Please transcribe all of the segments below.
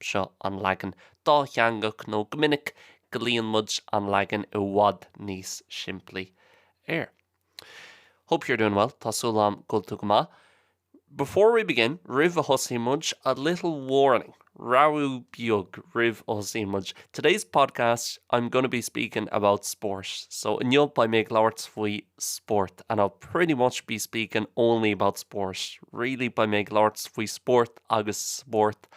Seo an leagan dátheangach nó go minic glaonn muid| an leagan i bhfad níos simplí air. Hope you're doing well, tá súil agam go bhfuil tú go maith. Before we begin, roimh a thosaíonn muid, a little warning, rabhadh beag roimh a thosaíonn muid. Today's podcast, I'm gonna be speaking about sport, so inniu beidh mé ag labhairt faoi spórt and I'll pretty much be speaking only about sport, really beidh mé ag labhairt faoi spórt agus spórt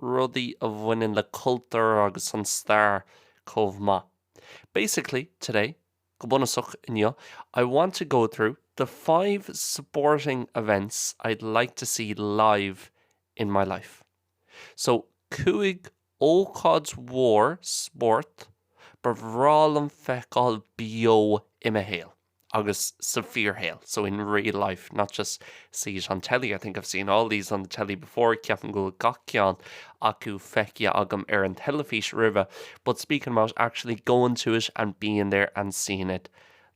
rudaí a bhaineann le cultúr agus an stair chomh maith. Basically, today, go bunúsach, inniu, I want to go through the five sporting events I'd like to see live in my life. So, cúig ócáid mhór spóirt ba bhreá liom feiceáil beo i mo shaol. agus sa bhfíorshaol, so in real life, not just see it on telly, I think I've seen all these on the telly before, ceapaim go bhfuil gach ceann acu feicthe agam ar an teilifís roimhe, but speaking about actually going to it and being there and seeing it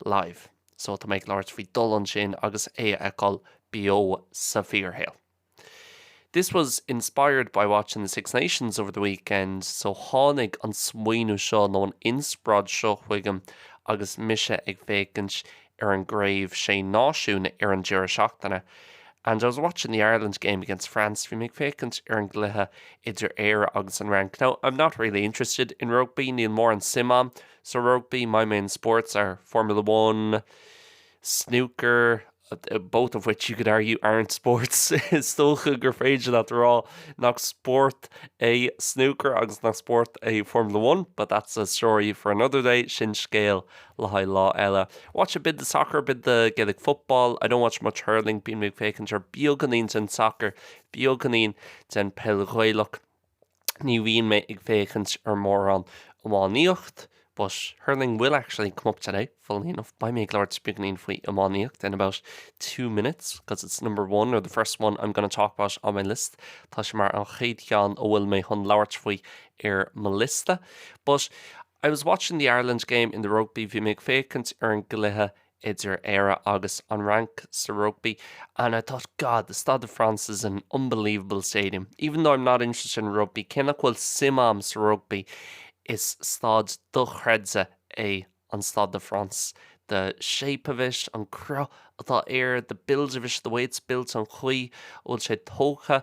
live, so tá mé ag labhairt faoi dhul ansin agus é a fheiceáil beo sa bhfíorshaol. This was inspired by watching the Six Nations over the weekend, so tháinig an smaoineamh seo nó an inspioráid seo chuigam agus mise ag féachaint ar an gCraobh Sé Náisiún ar an deireadh seachtaine. And I was watching the Ireland game against France, bhí mé ag féachaint ar an gcluiche idir Éire agus an Fhrainc. Now, I'm not really interested in rugby, níl mórán suim agam sa rugbaí, my main sports are Formula One, snooker, both of which you could argue aren't sports, is dócha gur féidir leat a rá nach spórt é snúcar agus nach spórt é Formula One, but that's a story for another day, sin scéal le haghaidh lá eile. Watch a bit the soccer, a bit the Gaelic football, I don't watch much hurling, bíonn mé ag féachaint ar beagáinín den sacar, beagáinín den peil Ghaelach. ní bhíonn mé ag féachaint ar mórán iománaíocht but hurling will actually come up today, funnily enough, beidh mé ag labhairt beagáinín faoi iománaíocht in about two minutes because it's number one or the first one I'm gonna talk about on my list, tá sé mar an chéad cheann a bhfuil mé chun labhairt faoi ar mo liosta. But I was watching the Ireland game in the rugby, bhí mé ag féachaint ar an gcluiche idir Éire agus an Fhrainc sa rugbaí and I thought God the Stade de France is an unbelievable stadium even though I'm not interested in rugby cé nach bhfuil suim a'm sa rugbaí is staid dochreidte é an Stade de France the shape of it an cruth atá air the build of it the way it's built an chaoi a bhfuil sé tógtha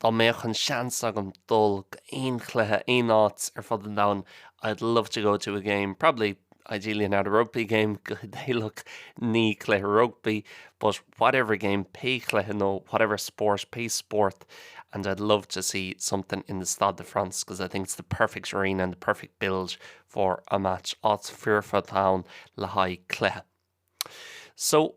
Dá mbeadh an seans agam dul go aon chluiche aon áit ar fud an domhain I'd love to go to a game, probably, ideally not a rugby game, go hidéalach ní cluiche rugbaí, but whatever game, pé cluiche nó whatever sport, pé spórt and I'd love to see something in the Stade de France because I think it's the perfect arena and the perfect build for a match, áit foirfe atá ann le haghaidh cluiche. So.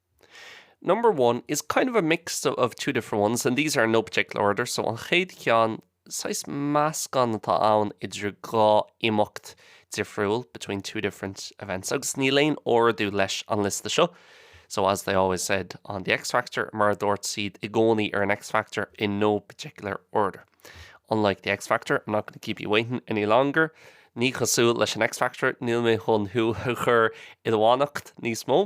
Number one is kind of a mix of two different ones and these are in no particular order so an chéad cheann, saghas meascán atá ann idir dhá imeacht difriúil between two different events agus níl aon ordú leis an liosta seo so as they always said on the X Factor mar a dúirt siad i gcónaí ar an X Factor in no particular order unlike the X Factor I'm not going to keep you waiting any longer ní chosúil leis an X Factor níl mé chun thú a chur i do fhanacht níos mó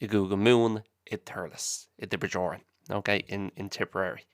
i gCúige Mumhan, i dTurlas, i dTiobraid Árann, ok, in, in Tipperary.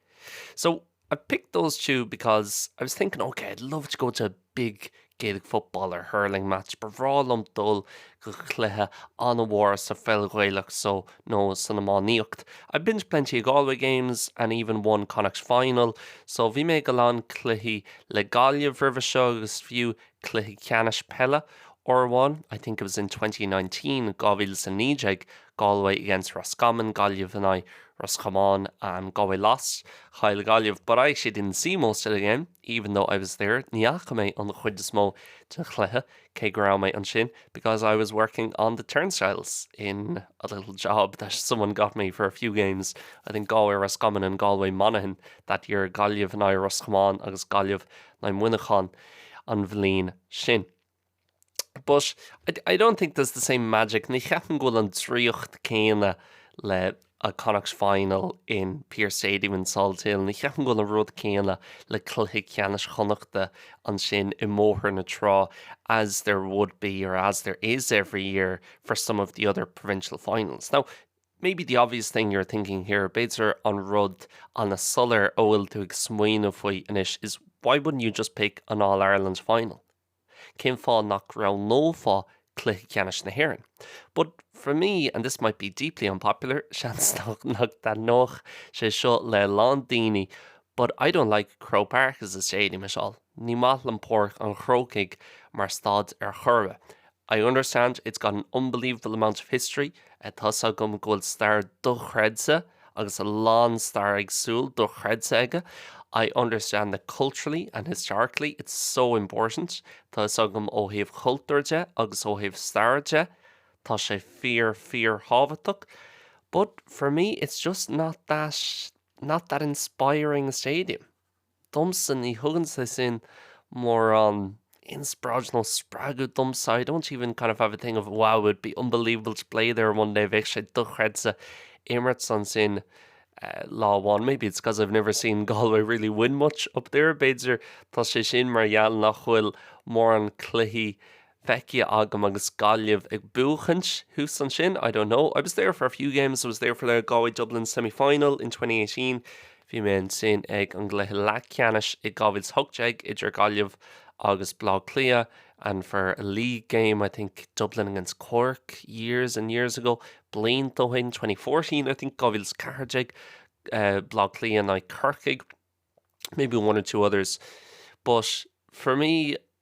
So, I've picked those two because I was thinking, ok, I'd love to go to a big Gaelic football or hurling match, ba bhreá liom dul go cluiche an-mhór sa pheil Ghaelach so, nó san iománaíocht. I've been to plenty of Galway games and even one Connacht final, so bhí mé ag a lán cluichí le Gaillimh roimhe seo agus fiú Cluiche Ceannais Peile, uair amháin, I think it was in twenty nineteen, dhá mhíle is a naoi déag, Galway against Roscommon, Gaillimh in aghaidh Ros Comáin, and Galway lost, chaill Gaillimh, but I actually didn't see most of the game, even though I was there, ní fhaca mé an chuid is mó den chluiche, cé go raibh mé ansin, because I was working on the turnstiles in a little job that someone got me for a few games, I think Galway-Roscommon and Galway-Monaghan that year, Gaillimh in aghaidh Ros Comáin agus Gaillimh in aghaidh Muineachán an bhliain sin. But I don't think there's the same magic, ní cheapaim go bhfuil an draíocht céanna le a Connacht final in Pearse Stadium in Salt Hill, ní cheapaim go bhfuil an rud céanna le cluiche ceannais Chonnachta ansin i mBóthar na Trá as there would be or as there is every year for some of the other provincial finals. Now, Maybe the obvious thing you're thinking here, b'fhéidir an rud an-soiléir a bhfuil tú ag smaoineamh faoi anois, is why wouldn't you just pick an All Ireland final? Cén fáth nach roghnófá cluiche ceannais na hÉireann? But for me, and this might be deeply unpopular, seans nach nach dtaitneoidh sé seo le a lán daoine, But I don't like Croke Park as a stadium at all, Ní maith liom Páirc an Chrócaigh mar staid ar chor ar bith. I understand it's got an unbelievable amount of history, Tá 's agam go bhfuil stair dochreidte agus a lán stair éagsúil dochreidte aige, I understand that culturally and historically it's so important, Tá 'fhios agam ó thaobh cultúir de agus ó thaobh staire de tá sé fíor-fíorthábhachtach, But for me it's just not that. Not that inspiring a stadium. Domsa ní thugann sé sin mórán inspioráid nó spreagadh domsa. I don't even kind of have a thing of wow, it would be unbelievable to play there one day, bheadh sé dochreidte imirt ansin lá amháin. Maybe it's because I've never seen Galway really win much up there, b'fhéidir tá sé sin mar gheall nach bhfuil mórán cluichí feicthe agam agus Gaillimh ag buachaint thuas ansin, I don't know, I was there for a few games, I was there for the Galway Dublin semi-final in 2018, bhí mé ansin ag an gcluiche leathcheannais i 2018 idir Gaillimh agus Bleá Cliath and for a league game, I think Dublin against Cork years and years ago, blianta ó shin, 2014 I think, 2014, Bleá Cliath in aghaidh Corcaigh, maybe one or two others, but for me,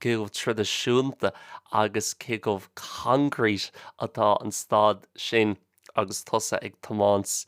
cé chomh traidisiúnta agus cé chomh concrete atá an staid sin agus tusa ag tiomáint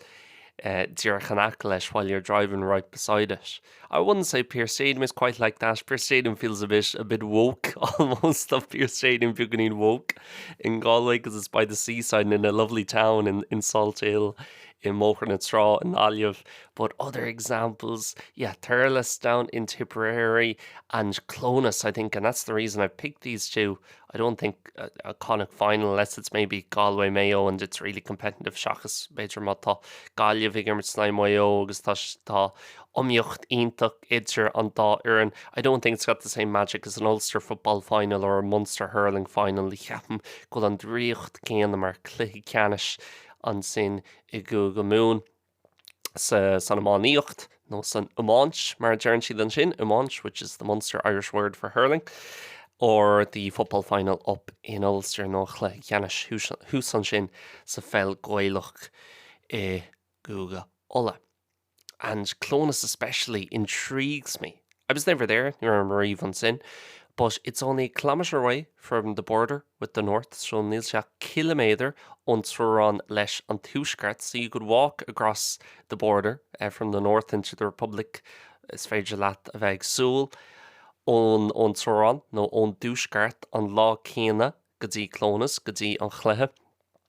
díreach in aice leis while you're driving right beside it. I wouldn't say Pearse Stadium is quite like that, Pearse Stadium feels a bit, a bit woke almost, tá Pearse Stadium beagáinín woke in Galway because it's by the seaside and in a lovely town in, in Salthill, i mBóthar na Trá, in Gaillimh, But other examples, yeah, Thurles down in Tipperary and Clones, I think, and that's the reason I picked these two. I don't think a Connacht final, unless it's maybe Galway, Mayo and it's really competitive seachas b'fhéidir má tá Gaillimh ag imirt in aghaidh Maigh Eo agus tá tá iomaíocht iontach idir an dá fhoireann. I don't think it's got the same magic as an Ulster football final or a Munster hurling final. Ní cheapaim go bhfuil an draíocht céanna ann mar cluiche ceannais ansin i gCúige Mumhan. san iománaíocht, nó san iomáint mar a deireann siad ansin, iomáint which is the Munster Irish word for hurling, or the football final up in Ulster nó an chluiche ceannais thuas ansin sa pheil Ghaelach i gCúige Uladh. And Clones especially intrigues me. I was never there, ní raibh mé riamh ansin, but it's only a kilometre away from the border with the North, so níl sé ach ciliméadar ón teorainn leis an Tuaisceart, so you could walk across the border from the North into the Republic, is féidir leat a bheith ag siúl ón ón teorainn nó ón dTuaisceart an lá céanna go dtí Clones, go dtí an chluiche.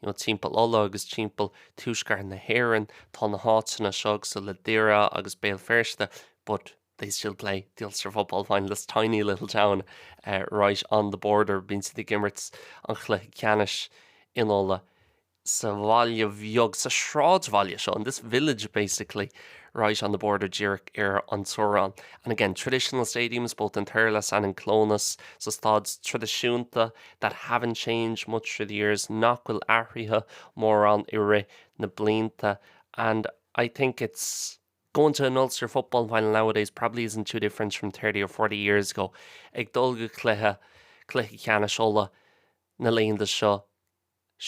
You know, timpeall Uladh agus timpeall tuaisceart na hÉireann, tá na háiteanna seo cosúil le Doire agus Béal Feirste but they still play the Ulster football final, this tiny little town right on the border, bíonn siad ag imirt an chluiche ceannais in Uladh sa bhaile beag, sa sráidbhaile seo, in this village basically right on the border díreach ar an teorainn. And again, traditional stadiums both in Thurles and in Clones, so staid traidisiúnta that haven't changed much through the years nach bhfuil athraithe mórán i rith na blianta and I think it's going to an Ulster Football Final nowadays probably isn't too different from thirty or forty years ago ag dul go cluiche cluiche ceannais Uladh na laethanta seo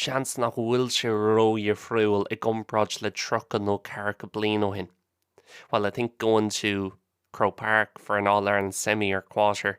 seans nach bhfuil sé ródhifriúil i gcomparáid le tríocha nó ceathracha bliain ó shin while I think going to Croke Park for an All-Ireland semi or quarter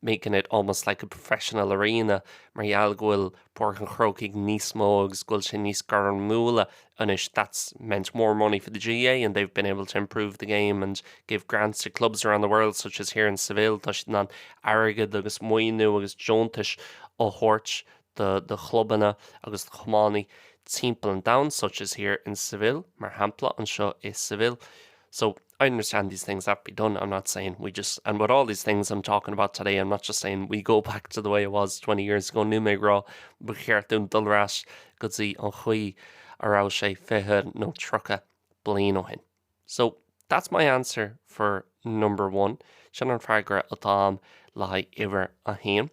making it almost like a professional arena mar gheall go bhfuil Páirc an Chrócaigh níos mó agus go bhfuil sé níos gairmiúla anois, that's meant more money for the GAA and they've been able to improve the game and give grants to clubs around the world such as here in Seville, tá siad in ann airgead agus maoiniú agus deontais a thabhairt do, do chlubanna agus do chumannaí timpeall an domhain such as here in Seville, mar shampla anseo i Seville. So, I understand these things have to be done, I'm not saying we just, and with all these things I'm talking about today I'm not just saying we go back to the way it was twenty years ago, níl mé ag rá ba cheart dúinn dul ar ais go dtí an chaoi a raibh sé fiche nó tríocha bliain ó shin. So, that's my answer for number one, sin an freagra atá a'm le haghaidh uimhir a haon.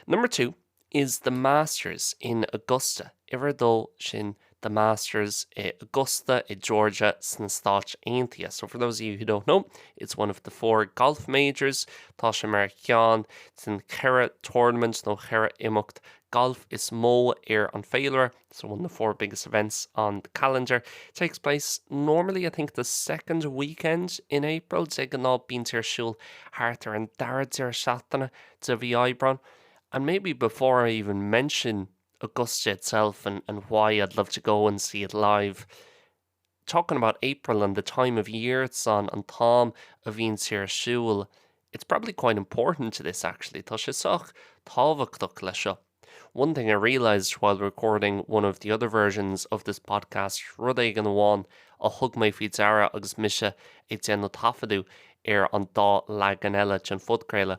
Number two, is The Masters in Augusta, uimhir a dó, sin The Masters i Augusta i Georgia sna Stáit Aontaithe. So for those of you who don't know, it's one of the four golf majors, tá sé mar cheann den cheithre tournament nó cheithre imeacht gailf is mó ar an féilire, so one of the four biggest events on the calendar. Takes place normally, I think, the second weekend in April, de ghnáth bíonn sé ar siúl thart ar an dara deireadh seachtaine de mhí Aibreáin, And maybe before I even mention Augusta itself and and why I'd love to go and see it live, talking about April and the time of year it's on, an t-am a bhíonn sé ar siúl, it's probably quite important to this actually, tá sé sách tábhachtach leis seo. One thing I realised while recording one of the other versions of this podcast, rud éigin amháin a thug mé faoi deara agus mise ag déanamh taifeadadh ar an dá leagan eile den phodchraoladh,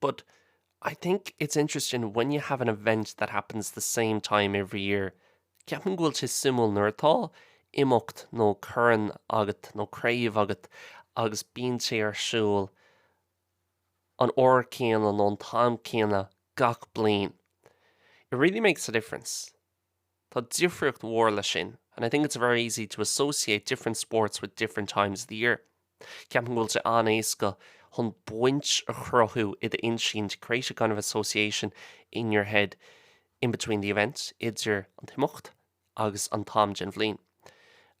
but I think it's interesting when you have an event that happens the same time every year ceapaim go bhfuil sé suimiúil nuair atá imeacht nó corn agat nó craobh agat agus bíonn sé ar siúl an uair céanna nó an t-am céanna gach bliain it really makes a difference. Tá difríocht mhór leis sin and I think it's very easy to associate different sports with different times of the year. Ceapaim go bhfuil sé an-éasca chun baint a chruthú i d'intinn to create a kind of association in your head in between the event, idir an t-imeacht agus an t-am den bhliain.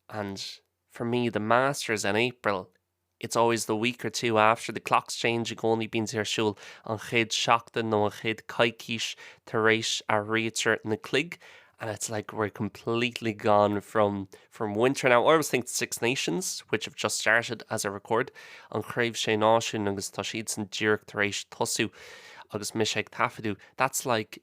And for me, the Masters in April It's always the week or two after the clocks change, i gcónaí bíonn sé ar siúl an chéad seachtain nó an chéad coicís tar éis athraítear na cloig and it's like we're completely gone from from winter now. I always think the Six Nations, which have just started as I record, an Chraobh Sé Náisiún, agus tá siadsan díreach tar éis tosú agus mise ag taifeadadh, that's like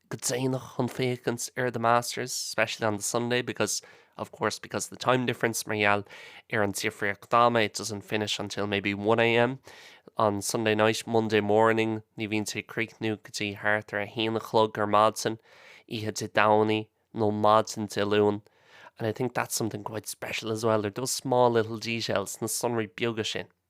go déanach chun féachaint ar The Masters, especially on the Sunday because, of course, because of the time difference, mar gheall ar an difríocht ama, it doesn't finish until maybe one a.m. on Sunday night, Monday morning, ní bhíonn sé ag críochnú go dtí thart ar a haon a chlog ar maidin, oíche Dé Domhnaigh nó maidin Dé Luain. And I think that's something quite special as well, there, those small little details, na sonraí beaga sin.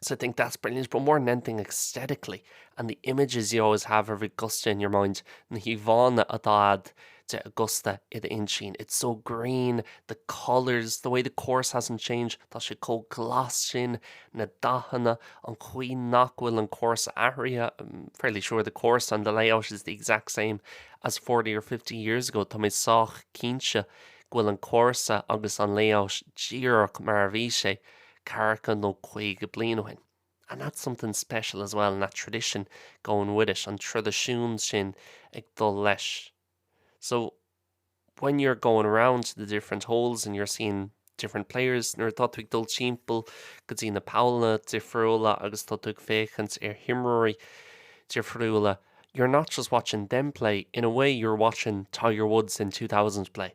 So I think that's brilliant but more than anything aesthetically and the images you always have of Augusta in your mind, na híomhánna atá a'd de Augusta i d'intinn, it's so green, the colours, the way the course hasn't changed, tá sé chomh glas sin, na dathanna, an chaoi nach bhfuil an cúrsa athraithe, I'm fairly sure the course and the layout is the exact same as forty or fifty years ago, tá mé sách cinnte go bhfuil an cúrsa agus an layout díreach mar a bhí sé ceathracha nó caoga bliain ó shin, and that's something special as well, and that tradition going with it, an traidisiún sin ag dul leis. So, when you're going around to the different holes and you're seeing different players, nuair atá tú ag dul timpeall go dtí na pollanna difriúla agus tá tú ag féachaint ar himreoirí difriúla, you're not just watching them play, in a way you're watching Tiger Woods in 2000 play.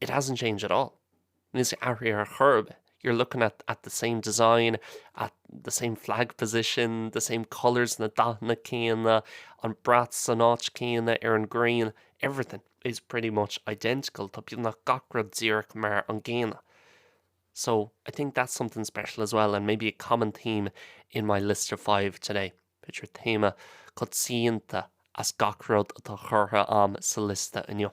It hasn't changed at all. Níl sé athraithe ar chor ar bith. You're looking at at the same design, at the same flag position, the same colours, na dathanna céanna, an brat san áit chéanna ar an green, everything is pretty much identical, tá beag nach gach rud díreach mar an gcéanna. So, I think that's something special as well and maybe a common theme in my list of five today. B'fhéidir téama coitianta as gach rud atá curtha am sa liosta inniu.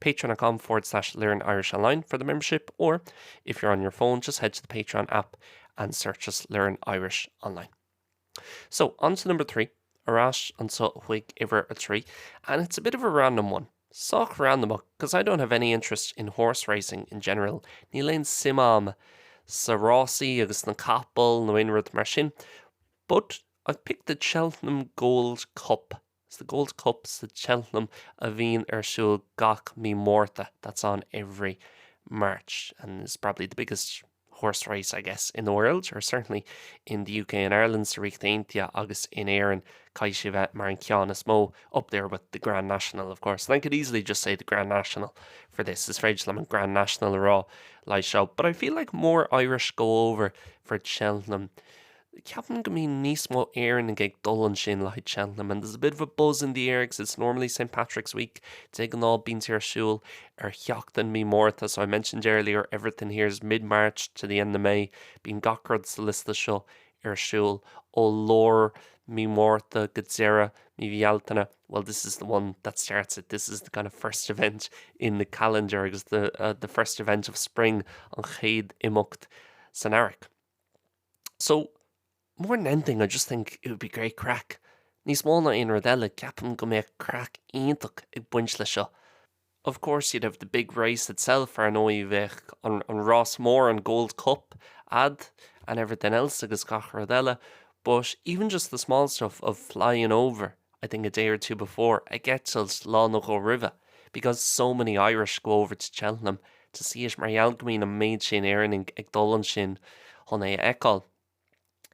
patreon.com/learnirishonline for the membership or if you're on your phone just head to the Patreon app and search us Learn Irish Online. So, on to number three, ar ais anseo chuig uimhir a trí, and it's a bit of a random one, sách randamach because I don't have any interest in horse racing in general, níl aon suim a'm sa rásaí agus sna capaill nó aon rud mar sin, but I've picked the Cheltenham Gold Cup It's the Gold Cup sa Cheltenham a bhíonn ar siúl gach mí Márta, that's on every March, and is probably the biggest horse race, I guess, in the world, or certainly in the UK and Ireland, sa Ríocht Aontaithe agus in Éirinn, caithfidh sé bheith mar an ceann is mó, up there with the Grand National, of course, and I could easily just say the Grand National for this, is féidir liom an Grand National a rá leis seo, but I feel like more Irish go over for Cheltenham. Ceapaim go mbíonn níos mó Éireannaigh ag dul ansin le haghaidh Cheltenham and there's a bit of a buzz in the air because it's normally St Patrick's Week, de ghnáth bíonn sé ar siúl ar sheachtain Mí Márta, so I mentioned earlier everything here is mid-March to the end of May, bíonn gach rud sa liosta seo ar siúl ó lár Mí Mhárta go deireadh Mí Bhealtaine, well this is the one that starts it, this is the kind of first event in the calendar because the first event of spring an chéad imeacht san earrach. So, more than anything, I just think it would be great craic. Níos mó ná aon rud eile, ceapaim go mbeadh craic iontach ag baint leis seo. Of course, you'd have the big race itself, ar ndóigh, bheadh an, an rás mór, an Gold Cup, ad, and everything else agus gach rud eile, but even just the small stuff of flying over I think a day or two before, ag eitilt lá nó dhó roimhe, because so many Irish go over to Cheltenham to see it, mar gheall go mbíonn an méid sin Éireannaigh ag dul ansin chun é a fheiceáil.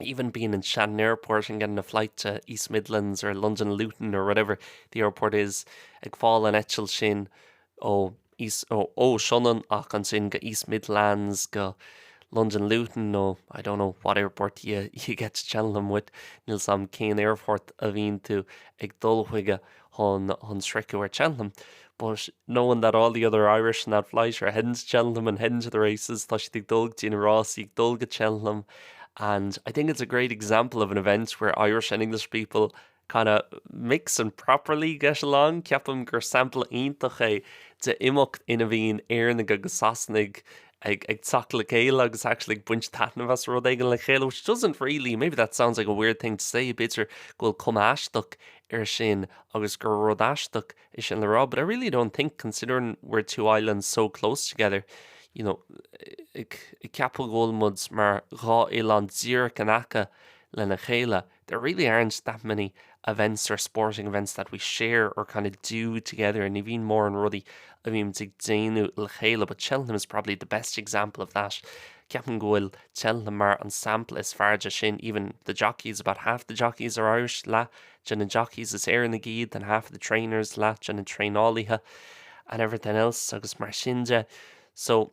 Even being in Shannon Airport and getting a flight to East Midlands or London Luton or whatever the airport is, ag fáil an eitilt sin ó, East, no, ó Sionainn ach ansin go East Midlands, go Londain Luton nó I don't know what airport you you get to Cheltenham with, níl 's a'm cén aerfort a bhíonn tú ag dul chuige chun chun sroicheadh ar Cheltenham, but knowing that all the other Irish in that flight are heading to Cheltenham and heading to the races, tá siad ag dul go dtí na rásaí, ag dul go Cheltenham and I think it's a great example of an event where Irish and English people kind of mix and properly get along. Ceapaim gur sampla iontach é de imeacht ina bhíonn Éireannaigh agus Sasanaigh ag, ag teacht le chéile agus actually ag baint taitneamh as rud éigin le chéile, which doesn't really, maybe that sounds like a weird thing to say, b'fhéidir go bhfuil cuma aisteach ar sin agus gur rud aisteach é sin le rá, but I really don't think considering we're two islands so close together, you know, ag ceapadh go bhfuil muid mar dhá oileán díreach in aice lena chéile. There really aren't that many events or sporting events that we share or kind of do together, ní bhíonn mórán rudaí a bhímid ag déanamh le chéile, but Cheltenham is probably the best example of that. Ceapaim go bhfuil Cheltenham mar an sampla is fearr de sin, even the jockeys, about half the jockeys are Irish, leath de na jockeys is Éireannaigh iad, and half of the trainers, leath de na traenálaithe, and everything else, agus mar sin de. So,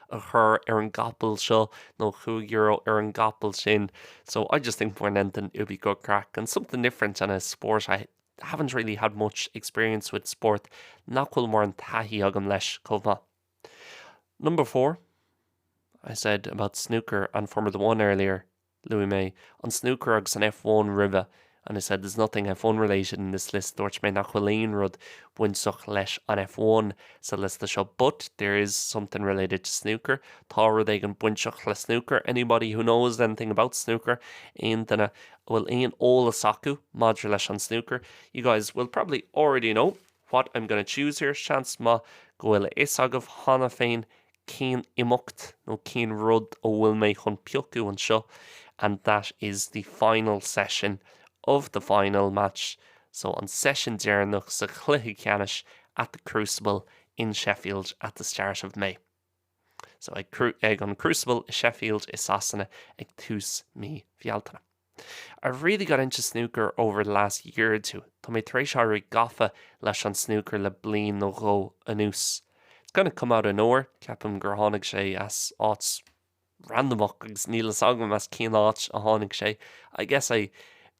a chur ar an gcapall seo nó chúig euro ar an gcapall sin so I just think more than anything it would be good craic and something different and a sport I haven't really had much experience with sport nach bhfuil móran taithí agam leis chomh maith. Number four, I said about snooker and Formula One earlier. Luaigh mé an snúcar agus an F1 roimhe and I said there's nothing F1 related in this list, dúirt mé nach bhfuil aon rud bainteach leis an F1 sa liosta seo but there is something related to snooker, tá rud éigin bainteach le snúcar. Anybody who knows anything about snooker, aon duine a bhfuil aon eolas acu maidir leis an snúcar, you guys will probably already know what I'm gonna choose here, seans maith go bhfuil a fhios agaibh cheana féin cén imeacht nó cén rud a bhfuil mé chun piocadh anseo and that is the final session of the final match so an seisiún deireanach sa chluiche ceannais at the Crucible in Sheffield at the start of May so ag an Crucible i Sheffield i Sasana ag tús mí Bhealtaine. I really got into snooker over the last year or two tá mé tar éis éirí gafa leis an snúcar le bliain nó dhó anuas it's kinda come out of nowhere ceapaim gur tháinig sé as áit randamach agus níl a fhios agam as cén áit a tháinig sé I guess I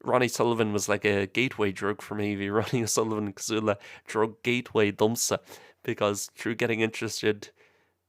Ronnie Sullivan was like a gateway drug for me bhí Ronnie O'Sullivan cosúil le drug gateway domsa because through getting interested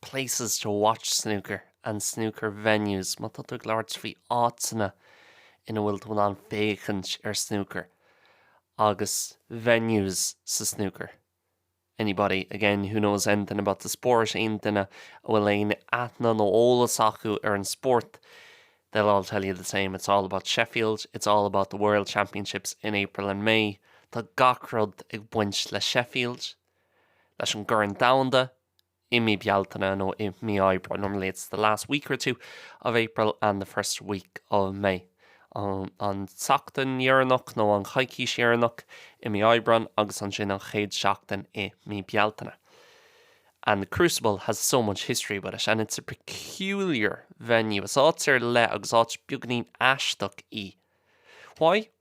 places to watch snooker and snooker venues má tá tú ag labhairt faoi áiteanna ina bhfuil tú in ann féachaint ar snúcar agus venues sa snúcar anybody, again, who knows anything about the sport aon duine a bhfuil aon aithne nó eolas acu ar an spórt they'll all tell you the same, it's all about Sheffield, it's all about the World Championships in April and May tá gach rud ag baint le Sheffield, leis an gCorn Domhanda. i mí Bealtaine nó i mí Aibreáin normally it's the last week or two of April and the first week of May an tseachtain dheireanach nó an choicís dheireanach i mí Aibreáin agus ansin an chéad seachtain i mí Bealtaine and the Crucible has so much history with it and it's a peculiar venue is áit ar leith agus áit beagainín aisteach í why?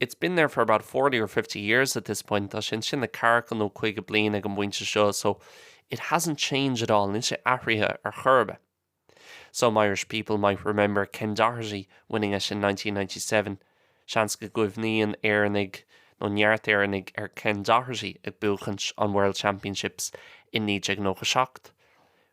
It's been there for about forty or fifty years at this point, tá sé ansin le daichead nó caoga bliain ag an bpointe seo so it hasn't changed at all, níl sé athraithe ar chor ar bith. Some Irish people might remember Ken Doherty winning it in nineteen ninety seven, seans go gcuimhníonn Éireannaigh nó neart Éireannaigh ar Ken Doherty ag buachaint an World Championships i 1997.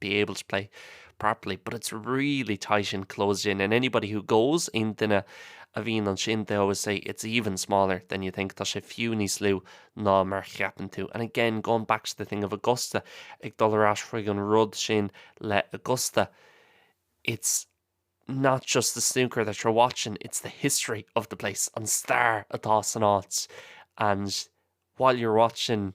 be able to play properly but it's really tight and closed in and anybody who goes aon duine a bhíonn ansin they always say it's even smaller than you think tá sé fiú níos lú ná mar cheapann tú and again going back to the thing of Augusta ag dul ar ais chuig an rud sin le Augusta it's not just the snooker that you're watching, it's the history of the place, an star atá san áit. And while you're watching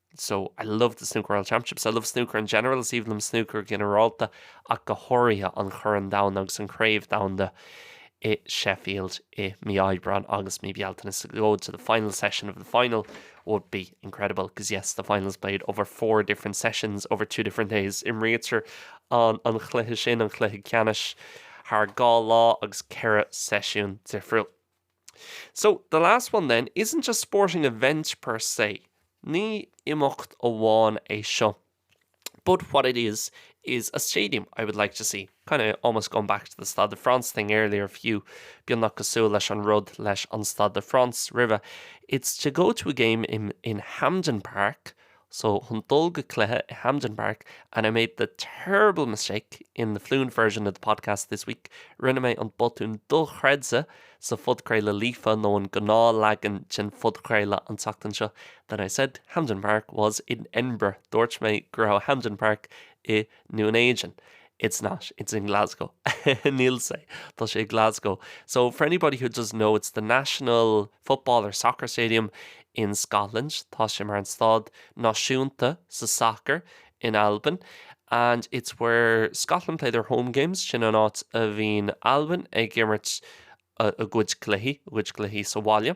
so I love the Snooker World Championships, I love snooker in general, is aoibhinn liom snúcar go ginearálta ach go háirithe an Corn Domhanda agus an Chraobh Dhomhanda i Sheffield i mí Aibreáin agus mí Bealtaine to go to the final session of the final would be incredible because yes the final is played over four different sessions over two different days imrítear an chluiche sin an chluiche ceannais thar dhá lá agus ceithre seisiún difriúil. So, the last one then, isn't a sporting event per se, ní imeacht amháin é seo, but what it is, is a stadium I would like to see, kind of almost going back to the Stade de France thing earlier, fiú, beagnach cosúil leis an rud leis an Stade de France roimhe, it's to go to a game in, in Hampden Park, So, chun dul go cluiche i Hampden Park, and I made the terrible mistake in the fluent version of the podcast this week, rinne mé an botún dochreidte sa phodchraoladh líofa nó an gnáthleagan den phodchraoladh an tseachtain seo, that I said Hampden Park was in Edinburgh, dúirt mé go raibh Hampden Park i nDún Éideann It's not, it's in Glasgow Níl sé, tá sé i nGlasgow So, for anybody who doesn't know, it's the national football or soccer stadium in Scotland Tá sé mar an staid náisiúnta sa sacar in Albain And it's where Scotland play their home games Sin an áit a bhíonn Albain ag imirt a gcuid cluichí, a gcuid cluichí sa bhaile.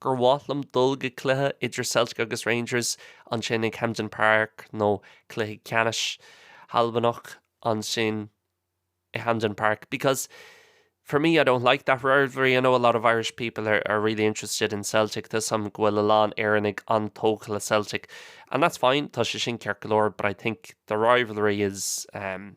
gur mhaith liom dul go cluiche idir Celtic agus Rangers, ansin ag Hampden Park nó cluiche ceannais hAlbanach, ansin i Hampden Park because for me I don't like that rivalry, I know a lot of Irish people are really interested in Celtic, tá 'fhios a'm go bhfuil a lán Éireannaigh an-tógtha le Celtic and that's fine, tá sé sin ceart go leor but I think the rivalry is umm.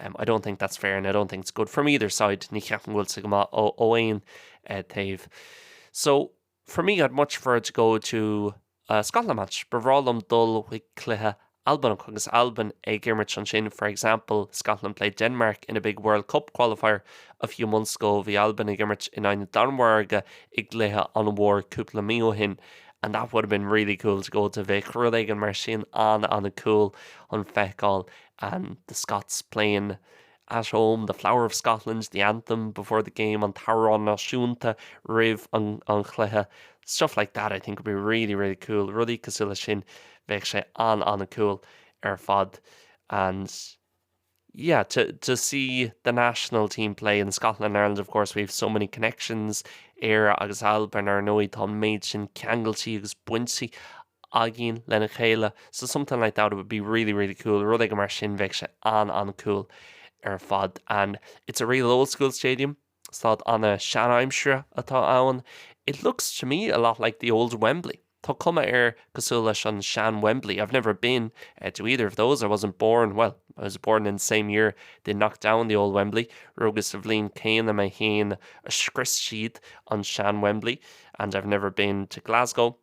I don't think that's fair and I don't think it's good from either side, ní cheapaim go bhfuil sé go maith ó aon taobh. So, for me, I'd much prefer to go to a Scotland match, ba bhreá liom dul chuig cluiche Albanach agus Albain ag imirt ansin, for example, Scotland played Denmark in a big World Cup qualifier a few months ago, bhí Albain ag imirt in aghaidh na Danmhairge i gcluiche an-mhór cúpla mí ó shin and that would have been really cool to go to bheadh rud éigin mar sin an-an-cool le feiceáil and the Scots playing at home, The Flower of Scotland, The Anthem before the Game, an tAmhrán Náisiúnta roimh an Chluiche, stuff like that, I think would be really, really cool, rudaí cosúil leis sin, bheadh sé an-an-cool ar fad and yeah, to, to see the national team play and Scotland and Ireland, of course, we have so many connections, Éire agus Albain, ar ndóigh, tá an méid sin ceangailtí agus baintí againn lena chéile so somethin' like that would be really really cool rud éigin mar sin bheadh sé an-an-cool ar fad and it's a real old school stadium staid an-seanaimsire atá ann it looks to me a lot like the old Wembley tá cuma air cosúil leis an sean-Wembley I've never been uh, to either of those I wasn't born well I was born in the same year they knocked down the old Wembley rugas sa bhliain céanna mé féin a scrios siad an sean-Wembley and I've never been to Glasgow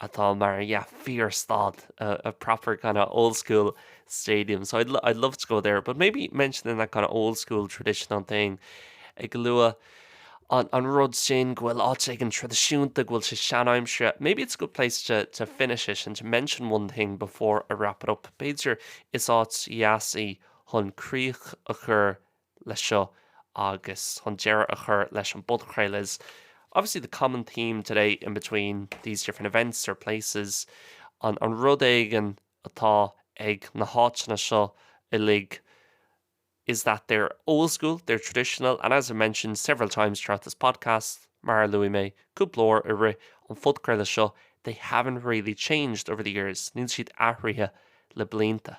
atá mar yeah fíor-stad, a proper kind of old school stadium, so I'd love to go there, but maybe mention in that kind of old school traditional thing ag lua an rud sin go bhfuil áit éigin traidisiúnta go bhfuil sé sean-aimsire, maybe it's a good place to to finish it and to mention one thing before I wrap it up, b'fhéidir is áit dheas í chun críoch a chur leis seo agus chun deireadh a chur leis an bpodchraoladh is obviously the common theme today in between these different events or places nó an rud éigin atá ag na háiteanna seo uilig is that they're old-school, they're traditional and as I mentioned several times throughout this podcast mar a luaigh mé cúpla uair i rith an phodchraoladh seo they haven't really changed over the years níl siad athraithe le blianta.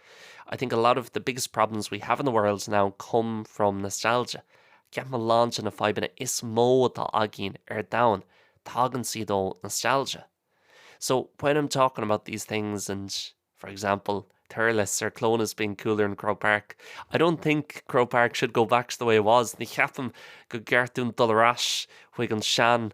I think a lot of the biggest problems we have in the world now come from nostalgia. Ceapaim a lán de na fadhbanna is mó atá againn ar domhan, tagann siad ó nostalgia. So when I'm talking about these things and, for example, Thurles or Clones being cooler in Croke Park, I don't think Croke Park should go back to the way it was. Ní cheapaim go gceart dúinn dul ar ais chuig an sean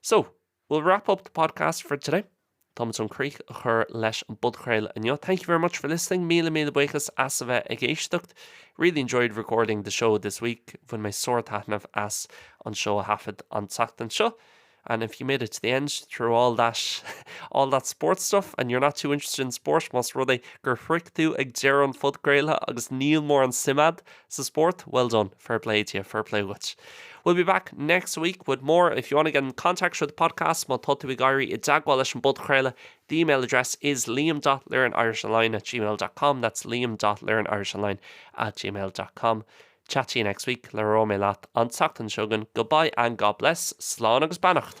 So, we'll wrap up the podcast for today. Táimid chun críoch a chur leis an bpodchraoladh inniu. Thank you very much for listening, míle míle buíochas as a bheith ag éisteacht. Really enjoyed recording the show this week, bhain mé sár-taitneamh as an seó a thaifead an tseachtain seo. And if you made it to the end through all that all that sports stuff and you're not too interested in sport, más rud é gur shroich tú ag deireadh an phodchraoladh agus níl mórán suim a'd Sa spórt, well done, fair play to you, fair play dhuit. We'll be back next week with more. If you want to get in contact with the podcast, má tá tú ag éirí i dteagmháil leis an bpodchraoladh, the email address is liam.learnirishonline at gmail dot com. That's liam.learnirishonline at gmail dot com. Chat to you next week. Le rá mé leat an tseachtain seogan. Goodbye and God bless. Slán agus beannacht.